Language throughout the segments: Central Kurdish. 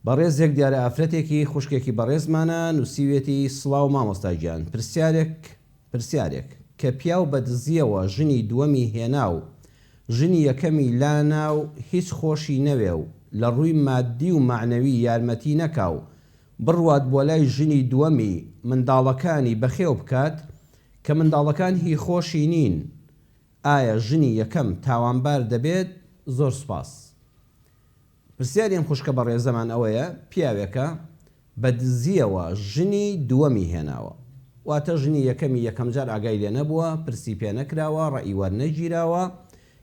بەڕێزێک دیارە ئافرەتێکی خوشکێکی بەڕێزمانە نوسیوێتی سڵاو مامۆستا گیان پرسیارێک پرسیارێک کە پیاو بە دزیەوە ژنی دووەمی هێنا و ژنی یەکەمی لا نا و هیچ خۆشی نەوێ و لە ڕووی ماددی و مەعنەوی یارمەتی نەکا و بڕوات بۆ لای ژنی دووەمی منداڵەکانی بەخێو بکات کە منداڵەکان هی خۆشی نین ئایا ژنی یەکەم تاوانبار دەبێت زۆر سوپاس. پرسیاری ئەم خوشکە بەڕێزەمان ئەوەیە پیاوێکە بە دزیەوە ژنی دووەمی هێناوە واتە ژنی یەکەمی یەکەم جار ئاگای لێ نەبووە پرسی پێ نەکراوە ڕەئی وەرنەگیراوە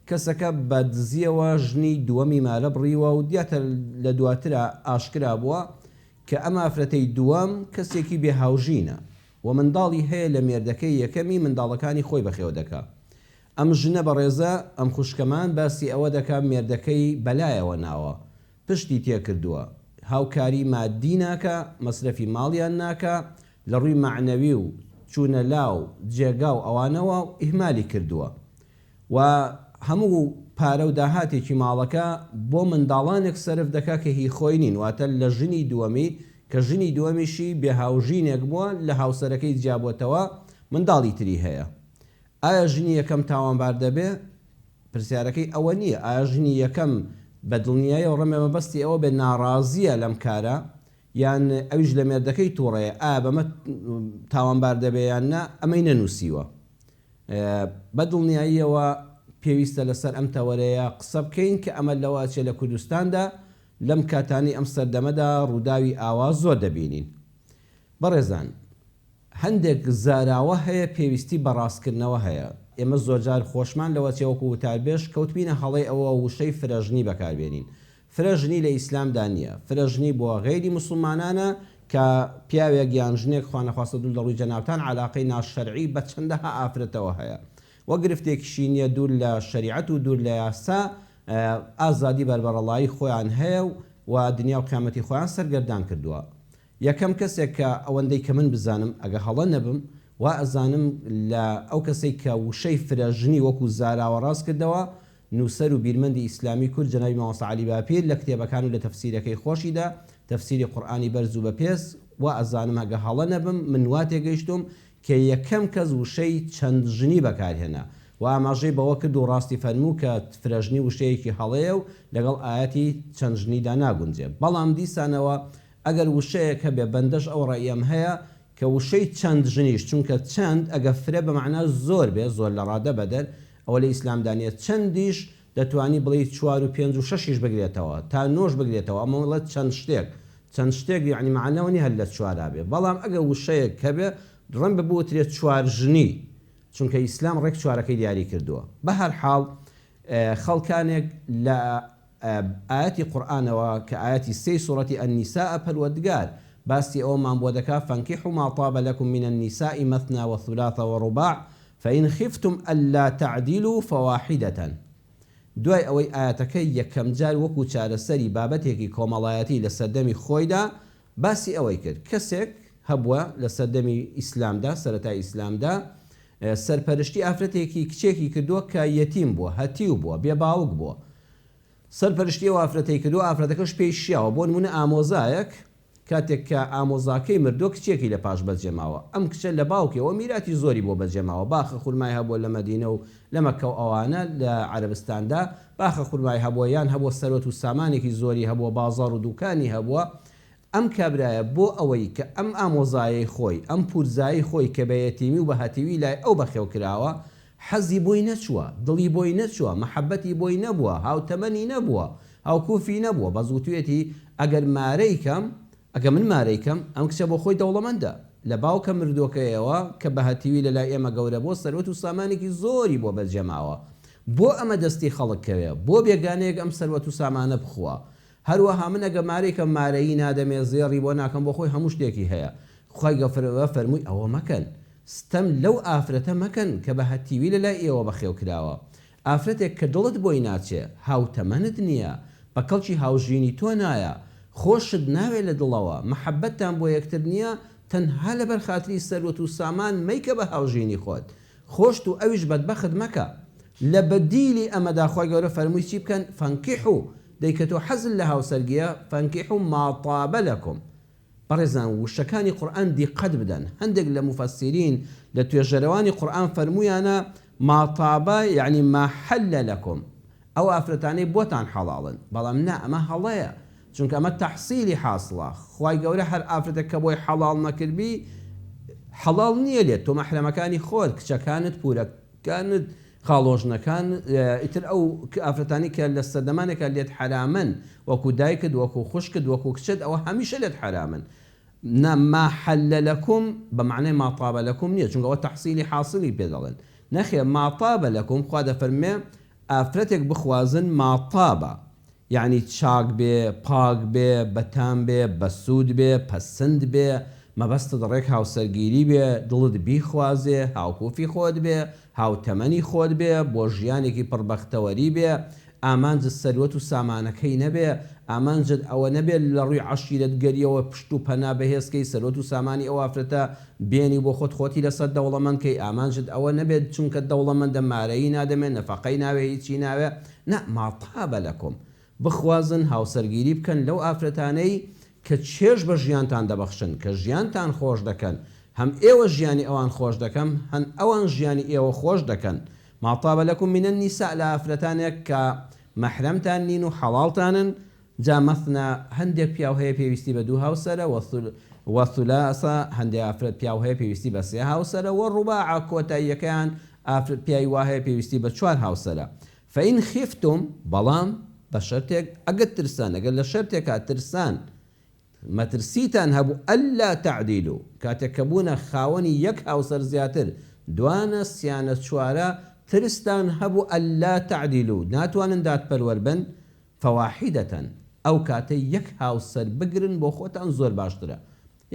کەسەکە بە دزیەوە ژنی دووەمی مارە بڕیوە و دیاتە لە دواترا ئاشکرا بووە کە ئەم ئافرەتەی دووەم کەسێکی بێ هاوژینە و منداڵی هەیە لە مێردەکەی یەکەمی منداڵەکانی خۆی بەخێو دەکا ئەم ژنە بەڕێزە ئەم خوشکەمان باسی ئەوە دەکا مێردەکەی بەلایەوە ناوە پشتی تێکردووە هاوکاری مادی ناکا مەسرەفی ماڵیان ناکا لەڕووی مەعنەوی و چوونە لا و جێگا و ئەوانەوە ئیهمالی کردووە و هەموو پارە و داهاتێکی ماڵەکە بۆ منداڵانێک سەرف دەکا کە هی خۆی نین واتە لە ژنی دووەمی کە ژنی دووەمیشی بێ هاوژینێک بووە لە هاوسەرەکەی جیابووەتەوە منداڵی تری هەیە ئایا ژنی یەکەم تاوانبار دەبێ؟ پرسیارەکەی ئەوە نییە ئایا ژنی یەکەم بە دڵنیایەوە ڕەمێ مەبەستی ئەوە بێ ناڕازییە لەم کارە یان ئەویش لە مێردەکەی تووڕەیە ئایا بەمە تاوانبار دەبێ یان نا ئەمەی نەنووسیوە. بە دڵنیاییەوە پێویستە لەسەر ئەم تەوەرەیە قسە بکەین کە ئەمە لەوە ئەچێ لە کوردستاندا لەم کاتانەی ئەم سەردەمەدا ڕووداوی ئاوا زۆر دەبینین. بەڕێزان! هەندێک زاراوە هەیە پێویستی بە ڕاستکردنەوە هەیە. ئێمە زۆرجار خۆشمان لەوە چێ وەکو وتاربێژ کەوتبینە هەڵەی ئەوە وشەی فرەژنی بەکاربێنین. فرەژنی لە ئیسلامدا نییە. فرەژنی بۆ غەیری موسڵمانانە کە پیاوێک یان ژنێک خوانەخواستە دوور لە ڕووی جەنابتان عەلاقەی ناشەرعی بە چەندەها ئافرەتەوە هەیە و گرفتێکیشی نییە دوور لە شەریعەت و دوور لە یاسا ئازادی بەربەڕەڵایی خۆیان هەیە و دنیا و قیامەتی خۆیان سەرگەردان کردووە. یەکەم کەسێک کە ئەوەندەی کە من بزانم ئەگە هەڵە نەبم وا ئەزانم لە ئەو کەسەی کە وشەی فرە ژنی وەکو زاراوە ڕاست کردەوە نووسەر و بیرمەندی ئیسلامی کورد جەنابی مامۆستا عەلی باپیر لە کتێبەکان و لە تەفسیرەکەی خۆشیدا تەفسیری قورئانی بەرز و بە پێز وا ئەزانم ئەگە هەڵە نەبم من وا تێگەیشتووم کە یەکەم کەس وشەی چەند ژنی بەکار هێنا و ئاماژەی بەوە کرد و ڕاستی فەرموو کە فرە ژنی وشەیەکی هەڵەیە و لەگەڵ ئایەتی چەند ژنیدا ناگونجێ بەڵام دیسانەوە ئەگەر وشەیەک هەبێ، بەندەش ئەو ڕەئیەم هەیە کە وشەی چەند ژنیش، چونکە چەند ئەگەر فرە بە مەعنا زۆر بێ، زۆر لە ڕادە بەدەر، ئەوە لە ئیسلامدا نیە، چەندیش دەتوانی بڵێی چوار و پێنج و شەشیش بگرێتەوە، تا نۆش بگرێتەوە، ئەمە ئەڵێت چەند شتێک، چەند شتێک یەعنی مەعنا ئەوە نیە هەر لە چوارا بێ، بەڵام ئەگەر وشەیەک هەبێ دڕەن بە بوترێ چوار ژنی، چونکە ئیسلام ڕێک چوارەکەی دیاری کردووە. بە هەر حاڵ خەڵکانێک لە. ئایەتی قورئانەوە کە ئایەتی سێی سورەتی النساء پەروەردگار باسی ئەوەمان بۆ دەکات فانکحوا ما طاب لکم من النساء مثنی و ثلاث و رباع فان خفتم الا تعدلوا فواحدە دوای ئەوەی ئایەتەکە یەکەم جار وەکو چارەسەری بابەتێکی کۆمەڵایەتی لە سەردەمی خۆیدا باسی ئەوەی کرد، کەسێک هەبووە لە سەردەمی ئیسلامدا، سەرەتای ئیسلامدا، سەرپەرشتی ئافرەتێکی کچێکی کردووە کە یەتیم بووە، هەتیو بووە، بێ باوک بووە، سەرپەرشتی ئەو ئافرەتەی کردووە، ئافرەتەکەش پێی شیاوە، بۆ نموونە ئامۆزایەک کاتێک کە ئامۆزاکەی مردووە کچێکی لە پاش بەجێماوە، ئەم کچە لە باوکێوە میراتی زۆری بۆ بەجێماوە، باخە خورمای هەبووە لە مەدینە و لە مەککە و ئەوانە لە عەرەبستاندا باخە خورمای هەبووە یان هەبووە سەروەت و سامانێکی زۆری هەبووە بازاڕ و دووکانی هەبووە ئەم کابرایە بۆ ئەوەی کە ئەم ئامۆزایەی خۆی ئەم پوورزایی خۆی کە بە یەتیمی و بە هەتیوی لای ئەو بەخێو کراوە حەزی بۆی نەچووە دڵی بۆی نەچووە مەحەبەتی بۆی نەبووە هاوتەمەنی نەبووە هاوکوفی نەبووە بەس وتویەتی ئەگەر مارەی کەم ئەگە من مارەی کەم ئەم کچە بۆ خۆی دەوڵەمەندە لە باوکە مردووەکەیەوە کە بە هەتیوی لە لای ئێمە گەورە بۆ سەروەت و سامانێکی زۆری بۆ بەرجەماوە بۆ ئەمە دەستی خەڵک کەوێ بۆ بێگانەیەک ئەم سەروەت و سامانە بخوا هەروەها من ئەگە مارەی کەم مارەیی نادەمێ زێڕی بۆ ناکەم بۆ خۆی هەموو شتێکی هەیە خوای گەورە فەرمووی ئەوە مەکەن ستەم لەو ئافرەتە مەکەن کە بە هەتیوی لە لای ئێوە بەخێو کراوە ئافرەتێک کە دڵت بۆی ناچێ، هاوتەمەنت نییە، بە کەڵکی هاوژینی تۆ نایە، خۆشت ناوێ لە دڵەوە، مەحەببەتتان بۆ یەکتر نییە، تەنها لەبەر خاتری سەروەت و سامان مەیکە بە هاوژینی خۆت. خۆشت و ئەویش بەدبەخت مەکە. لە بەدیلی ئەمەدا خوای گەورە فەرمووی چی بکەن، فانکحو، دەی کە تۆ حەزت لە هاوسەرگییە، فانکحو ما طاب لکم، بەڕێزان وشەکانی قورئان دیقەت بدەن هەندێک لە موفەسیرین لە توێژەرەوانی قورئان فەرموویانە ما طاب یەعنی ما حل لکم ئەو ئافرەتانەی بۆتان حەڵاڵن بەڵام نا ئەمە هەڵەیە چونکە ئەمە تەحسیلی حاسڵە خوای گەورە هەر ئافرەتەک کە بۆی حەڵاڵ نەکردبی حەڵاڵ نییە لێت تۆ مەحرەمەکانی خۆت کچەکانت پورەکانت خاڵۆژنەکان ئیتر ئەو ئافرەتانەی کە لە سەردەمانێکا لێت حەرامن وەکو دایکت وەکو خوشکت وەکو کچت ئەوە هەمیشە لێت حەرامن نا ما حل لکم بە مەعنای ما طاب لکم نیە چونکە ئەوە تەحسیلی حاسلی پێ دەڵێن نەخێر ما طاب لکم خوا دەفەرموێ ئافرەتێک بخوازن ما طاب یەعنی چاک بێ، پاک بێ، بەتام بێ، بەسوود بێ، پەسند بێ، مەبەستت ڕێک هاوسەرگیری بێ، دڵت بیخوازێ، هاوکوفی خۆت بێ، هاوتەمەنی خۆت بێ، بۆ ژیانێکی پڕ بەختەوەری بێ، ئامانجت سەروەت و سامانەکەی نەبێ، ئامانجت ئەوە نەبێ لە ڕووی عەشیرەتگەرییەوە پشت و پەنا بەهێز کەی، سەروەت و سامانی ئەو ئافرەتە بێنی و بۆ خۆت خۆتی لەسەر دەوڵەمەند کەی، ئامانجت ئەوە نەبێ چونکە دەوڵەمەندە مارەیی نادەمێ، نەفەقەی ناوێ، هیچی ناوێ، نا ماتابە لەکۆم بخوازن هاوسەرگیری بکەن لەو ئافرەتانەی کە چێژ بە ژیانتان دەبەخشن کە ژیانتان خۆش دەکەن هەم ئێوە ژیانی ئەوان خۆش دەکەم هەن ئەوان ژیانی ئێوە خۆش دەکەن ماتابە لەکوم من النساء لە ئافرەتانێک کە مەحرەمتان نین و حەڵاڵتانن جا مثنی هەندێک پیاو هەیە پێویستی بە دوو هاوسەرە، و ثلاثە هەندێک ئافرەت پیاو هەیە پێویستی بە سێ هاوسەرە، و رباعە کۆتاییەکەیان ئافرەت پیاوی وا هەیە پێویستی بە چوار هاوسەرە. فان خفتم بەڵام بە شەرتێک ئەگەر ترسان ئەگەر لە شەرتێکا ترسان مەترسیتان هەبوو ئەللا تعدیلوا کاتێک کە بوونە خاوەنی یەک هاوسەر زیاتر دوانە سیانە چوارە ترستان هەبوو ئەللا تعدیلوا ناتوانن دادپەروەر بن فواحیدەتەن، ئەو کاتەی یەک هاوسەر بگرن بۆ خۆتان زۆر باشترە،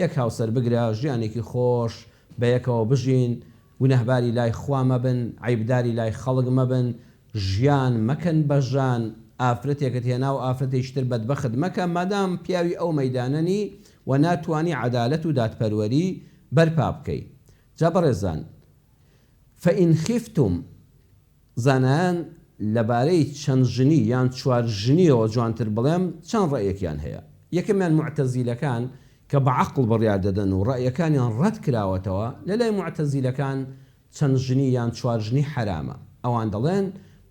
یەک هاوسەر بگرە ژیانێکی خۆش بەیەکەوە بژین، گوناهباری لای خوا مەبن، عەیبداری لای خەڵک مەبن، ژیان مەکەن بە ژان، ئافرەتێکت هێنا و ئافرەتێکی تر بەدبەخت مەکە، مادام پیاوی ئەو مەیدانە نی و ناتوانی عەدالەت و دادپەروەری بەرپا بکەی. جا بەڕێزان فە ان خیفتوم زانایان لەبارەی چەند ژنی یان چوار ژنیەوە جوانتر بڵێم چەند ڕەئیەکیان هەیە، یەکەمیان موعتەزیلەکان کە بە عەقڵ بڕیار دەدەن و ڕەئیەکانیان ڕەت کراوەتەوە، لەلای موعتەزیلەکان چەند ژنی یان چوار ژنی حەرامە، ئەوان دەڵێن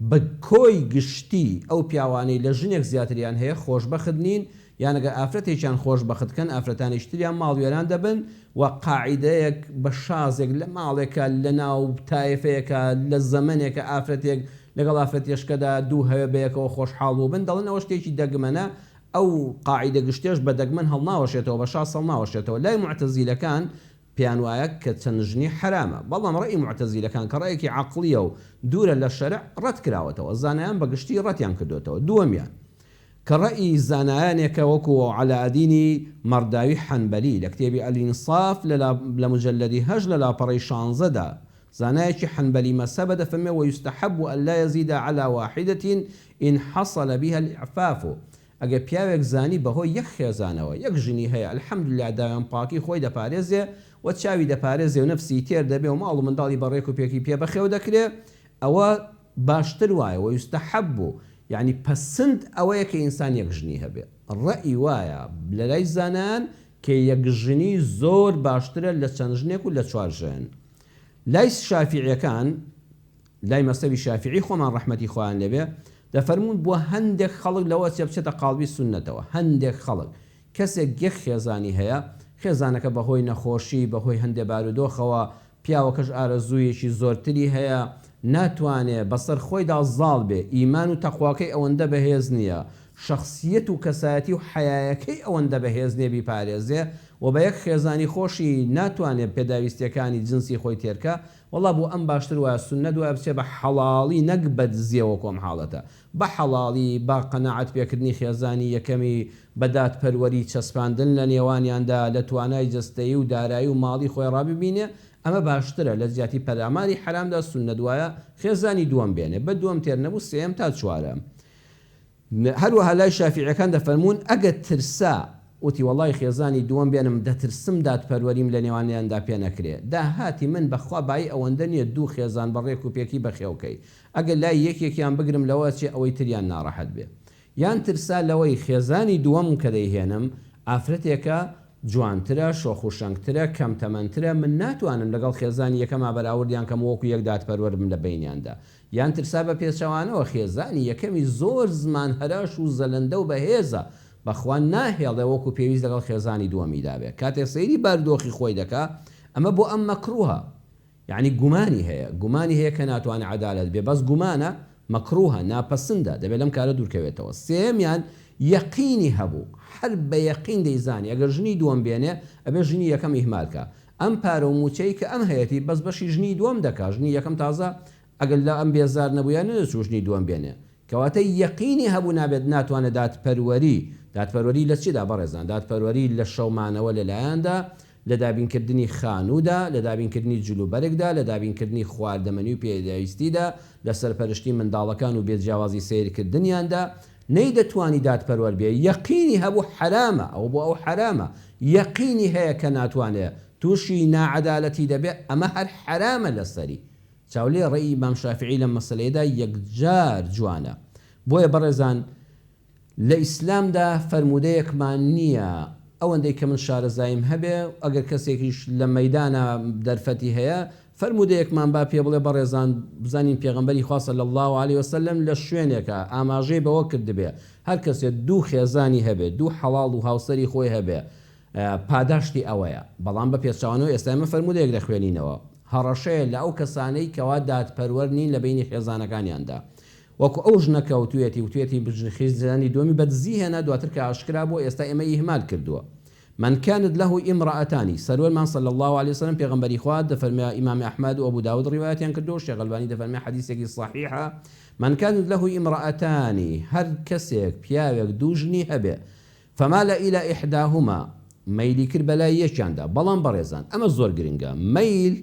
بە کۆی گشتی ئەو پیاوانەی لە ژنێک زیاتریان هەیە خۆشبەخت نین یان ئەگەر ئافرەتێکیان خۆش بەخت کەن ئافرەتانیش تریان ماڵوێران دەبن و قاعیدەیەک بە شازێک لە ماڵێکا لە ناو تایفەیەکا لە زەمەنێکا ئافرەتێک لەگەڵ ئافرەتێشکەدا دوو هەوێ بەیەکەوە خۆشحاڵ بووبن دەڵێن ئەوە شتێکی دەگمەنە ئەو قاعیدە گشتیەش بە دەگمەن هەڵناوەشێتەوە بە شاز هەڵناوەشێتەوە لای موعتەزیلەکان پێیان وایە کە چەند ژنی حەرامە بەڵام ڕەئی موعتەزیلەکان کە ڕەئێکی عەقڵیە و دوورە لە شەرع ڕەت کراوەتەوە زانایان بە گشتی ڕەتیان کردۆتەوە دووەمیان کە ڕەئی زانایانێکە وەکو عەلائەدینی مەڕداوی حەنبەلی لە کتێبی الانصاف لە لە مجەلەدی هەشت لە لاپەڕەی شانزە دا زانایەکی حەنبەلی مەزهەبە دەفەرمێ ویستحب ان لا یزید علی واحدە ان حصل بها الاعفاف ئەگەر پیاوێک زانی بەهۆی یەک خێزانەوە یەک ژنی هەیە الحمدللە داوێن پاکی خۆی دەپارێزێ و چاوی دەپارێزێ و نەفسی تێر دەبێ و ماڵ و منداڵی بە ڕێک و پێکی پێ بەخێو دەکرێ ئەوە باشتر وایە، ویستحب، یەعنی پەسند ئەوەیە کە ئینسان یەک ژنی هەبێ، ڕەئی وایە لەلای زانایان کە یەک ژنی زۆر باشترە لە چەند ژنێک و لە چوار ژن لای شافیعیەکان لای مەزهەبی شافیعی خۆمان ڕەحمەتی خوایان لێبێ دەفەرموون بۆ هەندێک خەڵک لەوەچێ بچێتە قاڵبی سوننەتەوە هەندێک خەڵک کەسێک یەک خێزانی هەیە، خێزانەکە بەهۆی نەخۆشی، بەهۆی هەندێ بارودۆخەوە، پیاوەکەش ئارەزوویەکی زۆرتری هەیە، ناتوانێ بەسەر خۆیدا زاڵ بێ، ئیمان و تەقواکەی ئەوەندە بەهێز نییە، شەخسییەت و کەسایەتی و حەیایەکەی ئەوەندە بەهێز نییە بیپارێزێ و بە یەک خێزانی خۆشی ناتوانێ پێداویستییەکانی جنسی خۆی تێرکا، وەڵڵا بۆ ئەم باشتر وایە سوننەت وایە بچێ بە حەڵاڵی نەک بەدزییەوە کۆم حاڵەتە بە حەڵاڵی، با قەناعەت پێکردنی خێزانی یەکەمی بە دادپەروەری چەسپاندن لە نێوانیاندا لە توانای جەستەیی و دارایی و ماڵی خۆی ڕا ببینێ، ئەمە باشترە لە جیاتی پەلاماری حەرامدا سوننەت وایە خێزانی دووەم بێنێ بە دووەم تێر نەبوو سێیەم تا چوارەم. هەروەها لای شافیعیەکان دەفەرموون ئەگەر ترسا وتی وەڵای خێزانی دووەم بێنم دەترسم دادپەروەریم لە نێوانیاندا پێ نەکرێ داهاتی من بە خوا بایی ئەوەندە نیە دوو خێزان بە ڕێک و پێکی بەخێوکەی ئەگەر لای یەکێکیان بگرم لەوە ئەچێ ئەوەی تریان ناڕەحەت بێ یان ترسا لەوەی خێزانی دووەم کە دەیهێنم ئافرەتێکە جوانترە، شۆخ و شەنگترە، کەم تەمەنترە، من ناتوانم لەگەڵ خێزانی یەکەما بەراوردیان کەم و وەکو یەک دادپەروەر بم لە بەینیاندا. یان ترسا بە پێچەوانەوە خێزانی یەکەمی زۆر زمان هەراش و زەلەندە و بەهێزە، بەخوا ناهێڵێ وەکو پێویست لەگەڵ خێزانی دووەمیدا بێ. کاتێک سەیری باردۆخی خۆی دەکا، ئەمە بۆ ئەم مەکروهە. یەعنی گومانی هەیە، گومانی هەیە کە ناتوانێت عەدالەت بێت، بەس گومانە، مەکروهە، ناپەسندە، دەبێت لەم کارە دوورکەوێتەوە. سێیەمیان، یەقینی هەبوو، هەر بە یەقین دەیزانی ئەگەر ژنی دووەم بێنێ، ئەبێت ژنی یەکەم ئیهمال کا. ئەم پارە و مووچەی کە ئەم هەیەتی، بەس بەشی ژنی دووەم دەکا، ژنی یەکەم تازە ئەگەر لە ئەم بێزار نەبوویا نەدەچوو ژنی دووەم بێنێ کەواتە یەقینی هەبوو نابێت ناتوانێت دادپەروەری دادپەروەری لە چیدا بەڕێزان دادپەروەری لە شەو مانەوە لە لایاندا لە دابین کردنی خانوودا لە دابین کردنی جل و بەرگدا لە دابین کردنی خواردەمەنی و پێداویستیدا لە سەرپەرشتی منداڵەکان و بێ جیاوازی سەیر کردنیاندا نەی دەتوانی دادپەروەر بێ یەقینی هەبوو حەرامە ئەوە بۆ ئەو حەرامە یەقینی هەیە کە ناتوانێ تووشی ناعەدالەتی دەبێ ئەمە هەر حەرامە لەسەری چاولێ ڕێی ئیمام شافیعی لەم مەسەلەیەدا یەکجار جوانە. بۆیە بەڕێزان لە ئیسلامدا فەرموودەیەکمان نییە ئەوەندەی کە من شارەزاییم هەبێ و ئەگەر کەسێکیش لە مەیدانا دەرفەتی هەیە فەرموودەیەکمان با پێ بڵێ بەڕێزان بزانین پێغەمبەری خوا صلی اللە علیە و سلم لە شوێنێکا ئاماژەی بەوە کردبێ هەر کەسێ دوو خێزانی هەبێ دوو حەڵاڵ و هاوسەری خۆی هەبێ پاداشتی ئەوەیە. بەڵام بە پێچەوانەوە ئێستا ئێمە فەرموودەیەک دەخوێنینەوە، هەڕەشەیە لە ئەو کەسانەی کەوا دادپەروەر نین لە بەینی خێزانەکانیاندا. وەکو ئەو ژنە کە وتویەتی، وتویەتی خیزانی دووەمی بە دزی هێنا دواتر کە ئاشکرا بووە ئێستا ئێمەی ئیهمال کردووە. من کانت له امرأتان، سەروەرمان صلی اللە علیە و سلم پێغەمبەری خوا، دەفەرمێ ئیمام ئەحمەد و ئەبوداود ڕیوایەتیان کردووە و شێخ ئەلبانی دەفەرمێ حەدیسێکی صەحیحە، من کانت له امرأتان، هەر کەسێک، پیاوێک، دوو ژنی هەبێ، فمال الی احداهما، مەیلی کرد بەلای یەکیاندا، بەڵام بەڕێزان، ئەمە زۆر گرنگە، مەیل،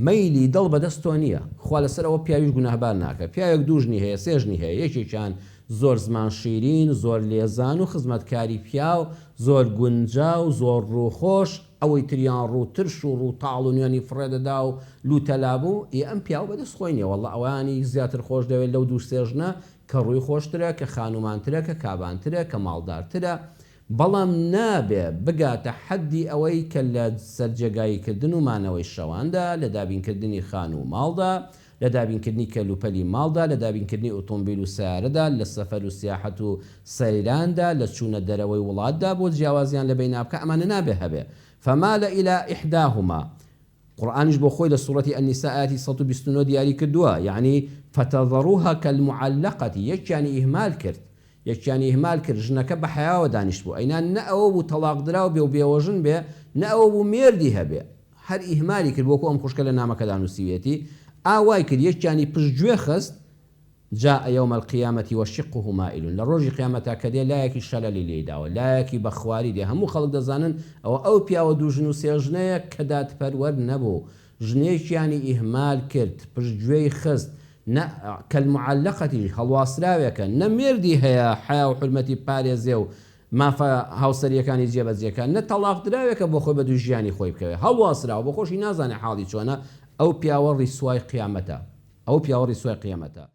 مەیلی دڵ بەدەست تۆ نییە، خوا لەسەر ئەوە پیاویش گوناهبار ناکات، پیاوێک دوو ژنی هەیە، سێ ژنی هەیە، یەکێکیان زۆر زمان شیرین، زۆر لێزان و خزمەتکاری پیاو، زۆر گونجاو، زۆر ڕووخۆش، ئەوەی تریان ڕوو ترش و ڕوو تاڵ و نوێنی فڕێ دەدا و لووتەلابوو، ئێ ئەم پیاوە بەدەست خۆی نییە، واللە ئەوانی زیاتر خۆش دەوێت لەو دوو سێ ژنە، کە ڕووی خۆشترە، کە خانومانترە، کە کابانترە، کە ماڵدارترە، بەڵام نابێ بگاتە حەددی ئەوەی کە لە سەرجێگاییکردن و مانەوەی شەواندا، لە دابینکردنی خانوو و ماڵدا، لە دابینکردنی کەلوپەلی ماڵدا، لە دابینکردنی ئوتومبیل و سەیارەدا، لە سەفەر و سیاحەت و سەیراندا، لە چوونە دەرەوەی وڵاتدا بۆ جیاوازیان لە بەینا بکا، ئەمانە نابێ هەبێ، فمال الی احداهما، قورئانیش بۆ خۆی لە سورەتی النساء ئایەتی سەد و بیست و نۆ دیاری کردووە یەعنی فتذروها کالمعلقە یەکیانی ئیهمال کرد یەکیانی ئیهمال کرد ژنەکە بە حەیاوە دانیشت بوو ئەینا نە ئەوە بوو تەڵاق دراو بێ و بێوەژن بێ نە ئەوە بوو مێردی هەبێ هەر ئیهمالی کرد وەکو ئەم خوشکە لە نامەکەدا نووسیویەتی ئا وای کرد یەکیانی پشت گوێ خست جاء یوم القیامە وشقه مائل لە ڕۆژی قیامەتا کە دێ لایەکی شەلەلی لێی داوە لایەکی بە خواری دێ هەموو خەڵک دەزانن ئەوە ئەو پیاوە دوو ژن و سێ ژنەیە کە دادپەروەر نەبوو ژنێکیانی ئیهمال کرد پشت گوێی خست نە کەلمعلقەتی هەڵواسراوێکە نە مێردی هەیە حەیا و حورمەتی بپارێزێ و مافە هاوسەریەکانی جێ بەجێ کا نە تەڵاق دراوێکە بۆ خۆی بە دووی ژیانی خۆی بکەوێ هەڵواسراوە بۆ خۆشی نازانێ حاڵی چۆنە ئەو پیاوە ڕیسوای قیامەتە ئەو پیاوە ڕیسوای قیامەتە.